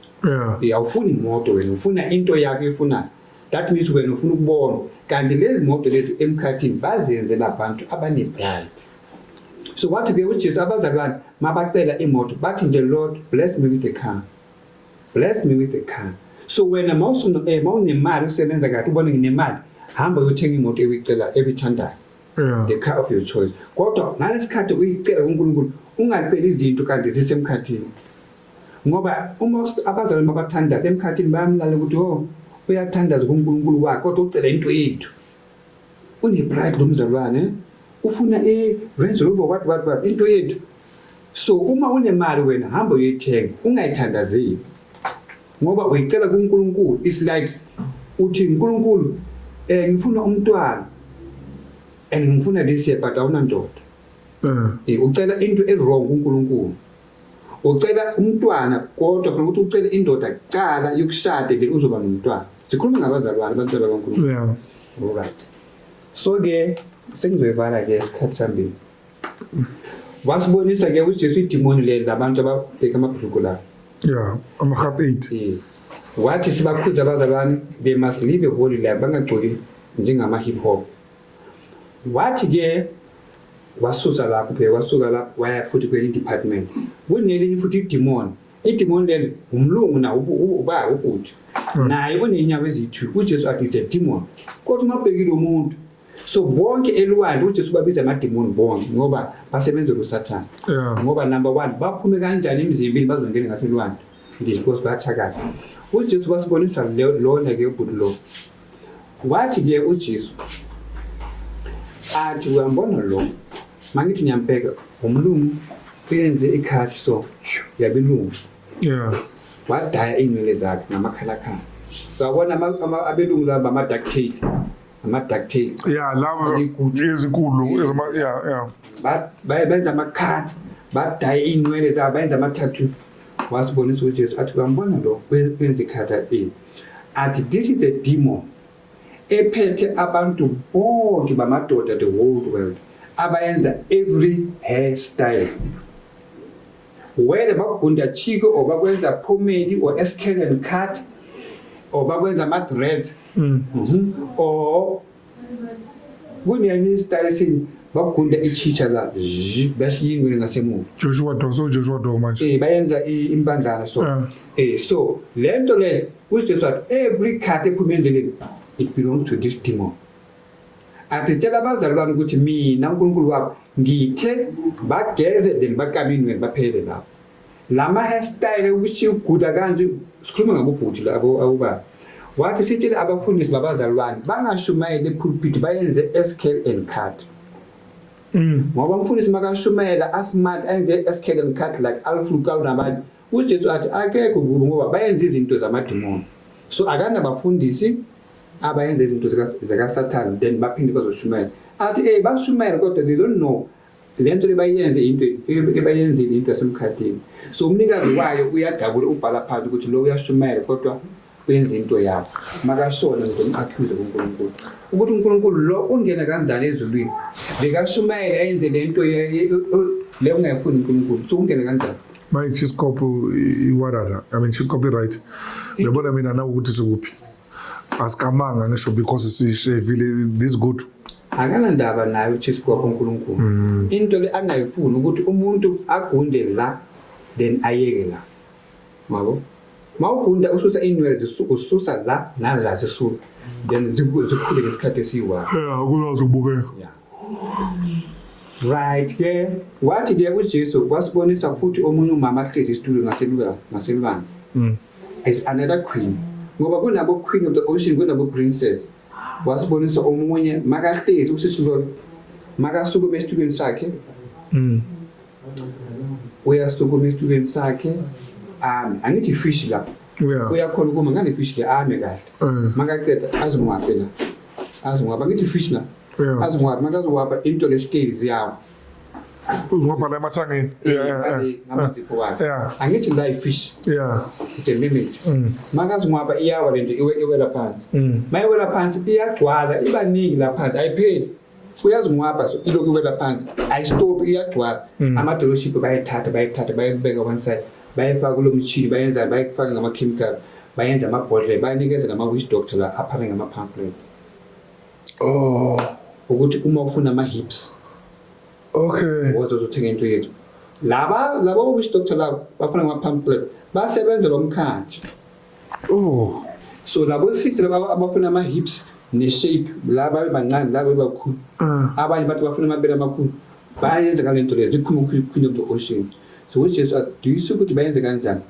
yeah awufuni imoto wena ufuna into yakho efunayo That means wena ufuna ukubona kanti lezi moto lezi emkhathini bazenze nabantu abanepride. So wathi ke uJesu abazalwane mabacela imoto bathi nje Lord bless me with the car. Bless me with the car. So wena mawusuna eh mawunemali usebenza kahle ubone nginemali hamba uyothenga imoto ebicela ebithandayo. Yeah. The car of your choice. Kodwa ngalesikhathi uyicela kuNkulunkulu ungaceli izinto kanti zisemkhathini. ngoba uma abazalwane babathandaza emkhathini bayamlala ukuthi o oh, uyathandaza kunkulunkulu wakhe kodwa ucela into yethu unepride lo mzalwane ufuna i-range rover wathi wathi wathi into yethu so uma unemali wena hamba uyoyithenga ungayithandazeli ngoba uyicela kunkulunkulu its like uthi nkulunkulu um ngifuna umntwana and ngifuna this year but awunandoda um eh. eh, ucela into e-wrong kunkulunkulu ucela umntwana kodwa khona ukuthi ucele indoda kuqala yokushade then uzoba nomntwana sikhuluma ngabazalwane abantwana bankulunkulu yeah. right so ke sengizoyivala ke isikhathi sambili wasibonisa ke ukuthi jesu idimoni leli labantu ababheka amabhuluku lawo yeah ama-half eight yeah. wathi sibakhudza abazalwane they must live a holy life bangagcoli njengama-hip hop wathi ke wasusa lapho phela wasuka lapho waya futhi kwenye department kunelinye futhi idimoni idimoni lelo umlungu na uba ubhuti hmm. naye onenyawo eziyi-two ujesu athi is a demon kodwa uma ubhekile umuntu so bonke elwandle ujesu babiza amadimoni bonke ngoba basebenzela usathane ngoba number one baphume kanjani emzimbini bazongene ngaselwandle ndizikosi bathakala ujesu basibonisa lona ke ubhuti lowo Wathi-ke uJesu athi, Uyambona lo? Mangithi ngiyambheka umlungu benze ikhathi so yabelungu. Yeah. Wadaya iy'nwele zakhe ngamakhalakhala. Sawabona abelungu laba ama-duct tape. Ama-duct tape. Yeah, laba ezinkulu ezama yeah yeah. Benza ama-cut, badaya iy'nwele zabo, benza ama-tattoo. Wasibonisa uJesu athi, Uyambona lo? Benze ikhatha ini? At this is the demon ephethe abantu bonke bamadoda the whole world abayenza every hairstyle whether bakugunda chiko or bakwenza pomade or escalon cut or bakwenza ama-dreads mm. mm -hmm. or Kunyanista esini bakugunda ichitsha la bashiya ingwele ngasemuva Joshua Dong so Joshua Dong manje eh bayenza impandlana so eh. eh so lento le uJesu wathi every cut ephuma endleleni it belongs to this demon athi tshela abazali bami ukuthi mina uNkulunkulu wabo ngithe bageze then bakame ingwele baphele lapho lama hairstyle ukuthi uguda kanje sikhuluma ngabobhuti labo awuba wathi sitshele abafundisi babazalwane bangashumayeli epulpiti bayenze escale and cut mm. ngoba umfundisi makashumayela asmart ayenze escale and cut like alflukawu nabanye ujesu athi akekho kubo ngoba bayenze izinto zamadimoni so akanabafundisi abayenza izinto zakasathane then baphinde bazoshumayela athi ey bashumayela kodwa they don't know le nto ebayenze into ebayenzile into yasemkhathini so umnikazi wayo uyajabula ubhala phansi ukuthi lo uyashumayela kodwa wenza into yakho makashona ngizomqakhuze kuNkulunkulu ukuthi uNkulunkulu lo ungena kanjani ezulwini bekashumayela ayenze le nto le ungayifuni uNkulunkulu so ungena kanjani manje isikopho iwarara i mean isikopho i-right yabona mina nawukuthi sikuphi asikamanga ngisho because sishevile this good akanandaba naye ujesu kwakho unkulunkulu mm. into le angayifuni ukuthi umuntu agunde la then ayeke la mabo ma ugunda ususa iinwele ususa la nala zisuka then zikhule ngesikhathi esiyiwakho kulwazi ukubukeka Right ke wathi ke uJesu wasibonisa futhi omunye umama ahlezi isitulo ngaseluka ngaselwanga. Mm. Is another queen. Ngoba kunabo queen of the ocean kunabo princess. Wasibonisa omunye makahlezi usisulo makasukume esitulweni sakhe. Mm. Uyasukuma esitulweni sakhe. Um angithi fish lapho. Yeah. Uyakhona ukuma ngane fish le ame kahle. Mm. Makaqeda azimwaphela. Azimwapha ngithi fish lapho. Yeah. aziwapha manje aziwapha into leskills yawo Uzungapha la emathangeni. Yeah, yeah, yeah. Ngale- ngamazipho wakhe Yeah. Mm. angithi la ifish Yeah. it's a mimic makaziwapha iyawa le nto iwe- iwela phansi Mm. mayiwela phansi iyagcwala ibaningi la phansi ayipheli uyaziwapha so ilokhu iwela phansi ayistophi iyagcwala Mm. amadoloshipi bayithatha bayithatha bayibeka one side bayifaka kulo mtshini bayenza bayifake ngama-chemical bayenza amabhodlela bayanikeza ngama-wish doctor la aphane ngama-pamphlet Oh, ukuthi uma ufuna ama hips okay. woza uzothenga into yethu. Laba laba witch doctor laba bafuna ama pamphlet basebenza lo mkhathi. Oh, So labo sisi laba abafuna ama hips ne shape laba bebancane laba bebakhulu. ah, Abanye bathi bafuna amabele amakhulu. Bayenza kalento leyo zikhuluma ukuthi queen of the ocean. So which is aduyisa ukuthi bayenze kanjani.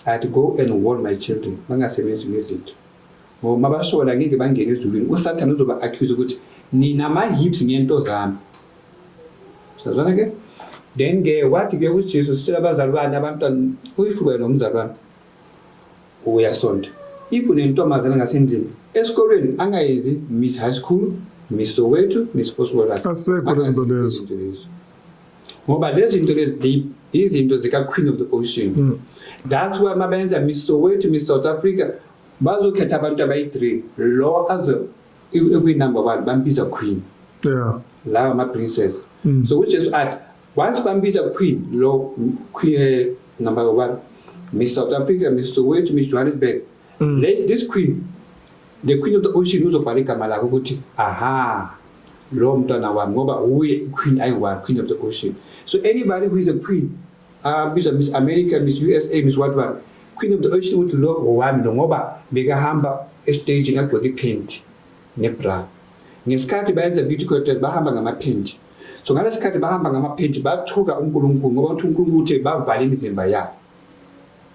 I'd go and warn my children bangasebenzi ngezinto. ngoba uma basola ngeke bangene ezulwini usathane uzoba accuse ukuthi nina ama-hips ngento zami sazwana ke then ke wathi ke ujesu sitshela abazalwane abantwana uyifuke nomzalwane uyasonta if unentombazana ngasendlini esikolweni angayenzi miss high school miss soweto miss possibleasekho lezinto lezo ngoba lezi zinto lezi deep izinto zika-queen of the ocean mm. that's why mabenza miss soweto miss south africa bazokhetha abantu abayi-three lo azo ekuyinumber one bambiza queen yeah lawa ama-princess mm. so ujesu athi once bambiza queen lo queen eh, number one miss south africa miss soweto miss johannesburg mm. let this queen the queen of the ocean uzobhala igama lakho ukuthi aha lo mntwana wami ngoba uye queen ayi-one queen of the ocean so anybody who is a queen abizwa miss america miss usa miss what what khwini mntu oyisho ukuthi lo ngowami lo ngoba bekahamba estagini agqoke iphenti nebra ngesikhathi bayenza beauty contest bahamba ngamaphenti so ngalesi khathi bahamba ngamaphenti bathuka unkulunkulu ngoba uthi unkulunkulu uthe bavale imizimba yabo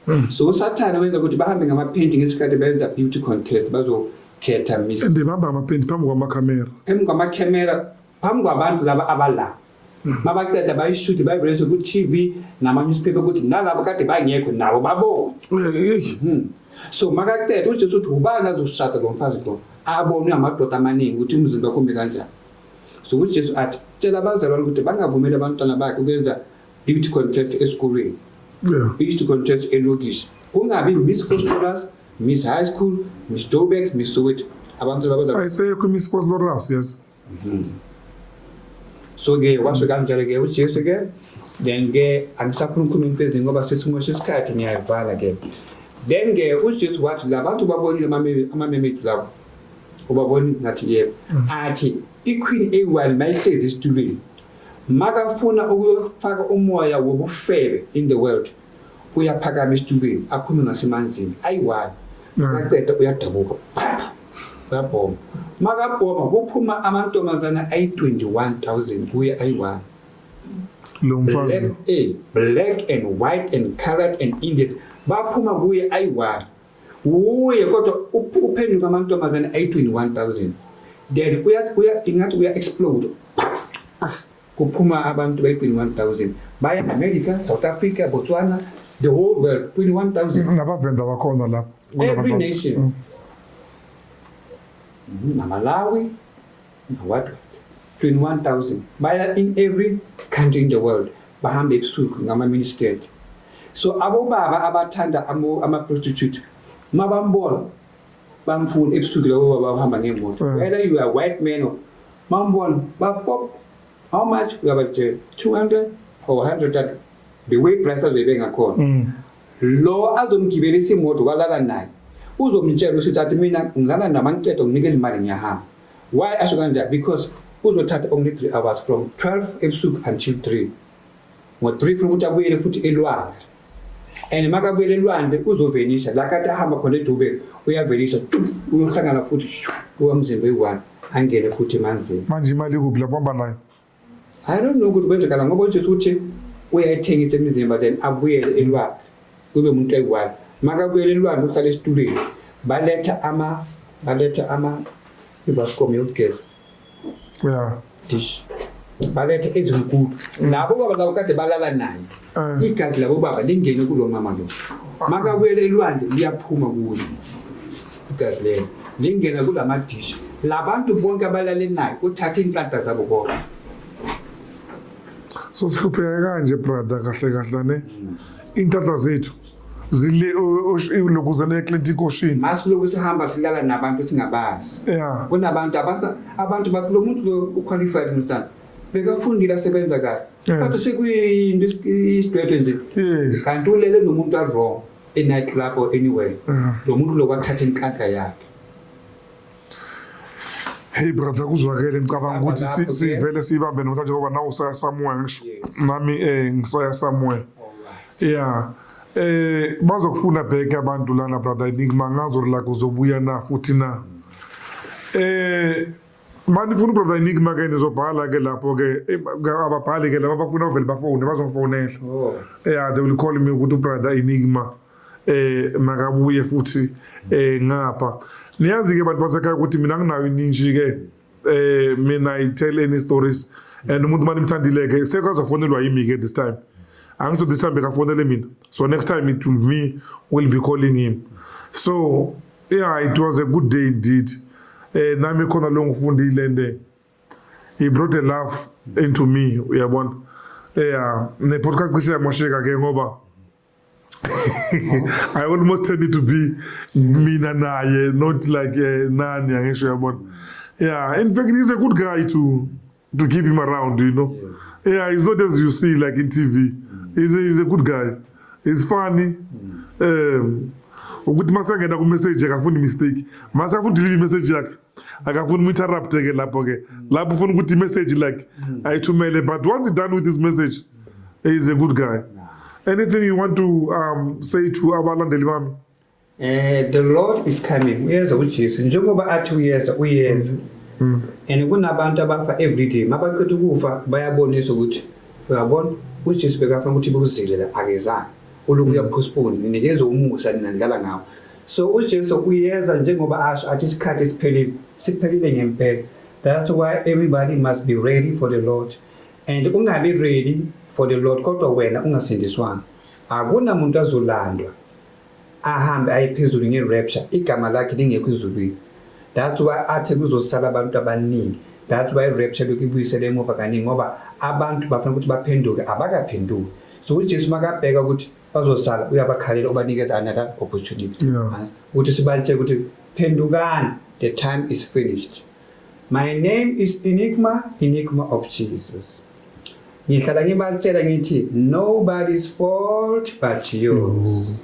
hmm. so usathane wenza ukuthi bahambe ngamaphenti ngesikhathi bayenza beauty contest bazokhetha miss and bahamba ngamaphenti phambi kwamakhamera phambi kwamakhamera phambi kwabantu laba abalapha mabaqeda bayishuthi bayivulese ku-tv nama-newspaper ukuthi nalabo kade bangekho nabo babone hmm. so makaqeda ujesu uthi ubani azoshada lo mfazi lo abonwe amadoda amaningi ukuthi umzimba kumbe kanjani so ujesu athi tshela abazalwane ukuthi bangavumeli abantwana bakhe ukwenza beauty contest esikolweni beauty contest elokishi kungabi miss hostolas miss high school miss dobek miss soweto abantu ayisekho imiss hostolas yes Mhm. So-ke kwasho kanjalo-ke uJesu-ke then-ke angisakhulumkhuluma imfezi ngoba sesimosha isikhathi ngiyayivala-ke then-ke uJesu wathi la bantu babonile amame- amamemedu lawo ubabona ngathi yebo athi iqueen eyi-one mayihlezi esitulweni makafuna ukuyofaka umoya wobufebe in the world uyaphakama esitulweni aphume ngasemanzini ayi-one akaqeda mm. uyadabuka phapha uyabhoma makabhoma kuphuma amantombazana ayi-21 000 kuye ayi-one lo mfazi black, eh, black and white and colored and indies baphuma kuye ayi-one wuye kodwa uphenduka amantombazana ayi-21 000 then ingathi uya-explode ah Kuphuma abantu bayi-21,000 baya America, South Africa, Botswana, the whole world 21,000. Mm, nabavenda bakhona lapho. Every nation. Mm. Mm, Namalawi, what? 21,000 baya in every country in the world bahambe ebusuku ngama-ministet so abobaba abathanda ama-prostitute mabambona bamfuna ebusuku labo baba bahamba ngemoto mm. whether you are white man or mambona bapop how much uyabajela 200 or 100 the way price azoyibe ngakhona mm. lo azomgibelisa imoto walala naye uzomtshela usithi athi mina ngilala namancedo nginika izimali ngiyahamba why asho kanjani because uzothatha only 3 hours from 12 ebusuku until 3 ngo-3 funa ukuthi abuyele futhi elwandle and makabuyela elwandle uzovelisa la kade ahamba khona edube uyavelisa uyohlangana futhi kuba mzimba eyi-one angene futhi emanzini manje imali ikuphi lapho hamba nayo i don't know ukuthi kwenzekala ngoba ujesu ukuthi uyayithengisa imizimba then abuyele elwandle kube umuntu eyi-one makabuyela elwandle uhlala esitulweni baletha ama baletha ama ibascom yokugeza yeah dish balethe ezinkulu labo baba labo kade balala naye Eh. igazi labo baba lingene kulo mama lo makabuyele elwandle liyaphuma kuye igazi lelo lingena kula madishi labantu bonke abalale naye uthathe inhlanta zabo bonke so sihlupheke kanje brother kahle kahle ne intatha zethu zile lokhu zena eklenti inkoshini masilokhu sihamba silala nabantu singabazi yeah. kunabantu abantu bathi lo muntu lo uqualified mntana bekafundile asebenza kahle but sekuyinto isidwedwe nje kanti ulele nomuntu awrong e-night club or anywhere lo muntu lo kwathatha inhlanhla yakhe Hey brother kuzwakele ngicabanga ukuthi sivele siyibambe noma njengoba nawe usaya somewhere ngisho nami eh ngisaya somewhere yeah eh bazokufuna back abantu lana brother enigma ngazo la kuzobuya na futhi na eh mani funa brother enigma ke nizobhala ke lapho ke eh, ababhali ke laba bafuna bavele bafone bazofonela oh. yeah they will call me ukuthi brother enigma eh makabuye futhi eh ngapha niyazi ke bantu basekhaya ukuthi mina nginayo ininji ke eh mina i tell any stories and umuntu mani mthandile ke sekazofonelwa yimi ke this time angisho this time bekafonele mina so next time it will me will be calling him so yeah it was a good day indeed eh nami khona lo ngifundile and eh, he brought a love into me uyabona yeah ne podcast cishe yamosheka ke ngoba I almost tended to be mina naye not like uh, nani angisho yabona yeah in fact he's a good guy to to keep him around you know yeah, yeah he's not as you see like in TV mm. he's, a, he's a good guy he's funny mm. um ukuthi masangena ku message akafundi mistake masafuni deliver message yakhe akafuni mu-interrupte ke lapho ke lapho ufuna ukuthi imessage like ayithumele but once done with his message is a good guy anything you want to um, say to abalandeli bami eh the lord is coming uyeza ujesu njengoba athi uyeza uyeza mm. and kunabantu abafa everyday mabaqeda ukufa bayabonisa ukuthi uyabona ujesu bekafuna ukuthi bekuzilela akezanga uluku mm. uyaphospone ninikeza umusa ninandlala ngawo So uJesu uyeza njengoba asho athi isikhathi siphelile siphelile ngempela. That's why everybody must be ready for the Lord and ungabi ready for the Lord kodwa wena ungasindiswanga. Akunamuntu azolandwa ahambe aye phezulu nge-rapture igama lakhe lingekho ezulwini. That's why athi kuzosala abantu abaningi. That's why i-rapture lokhu ibuyisele emuva kaningi ngoba abantu bafuna ukuthi baphenduke abakaphenduki. So uJesu makabheka ukuthi bazosala uyabakhalela ubanikeza another opportunity ukuthi sibalitshe ukuthi phendukani the time is finished my name is enigma enigma of jesus ngihlala ngibatshela ngithi nobody's fault but yours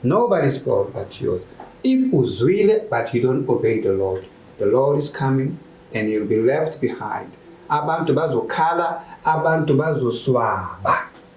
nobody's fault but yours if uzwile but you don't obey the lord the lord is coming and you'll be left behind abantu bazokhala abantu bazoswaba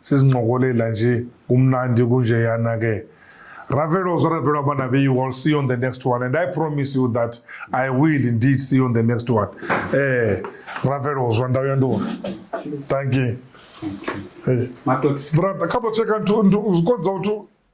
sizincokolela nje kumnandi kunjeyana ke ravelo zvaravelo abana be you will see you on the next one and i promise you that i will indeed see you on the next one eh ravelo zwa ndawu ya ndona thank you hey. brother kha ḓo tsheka zwikonza uthu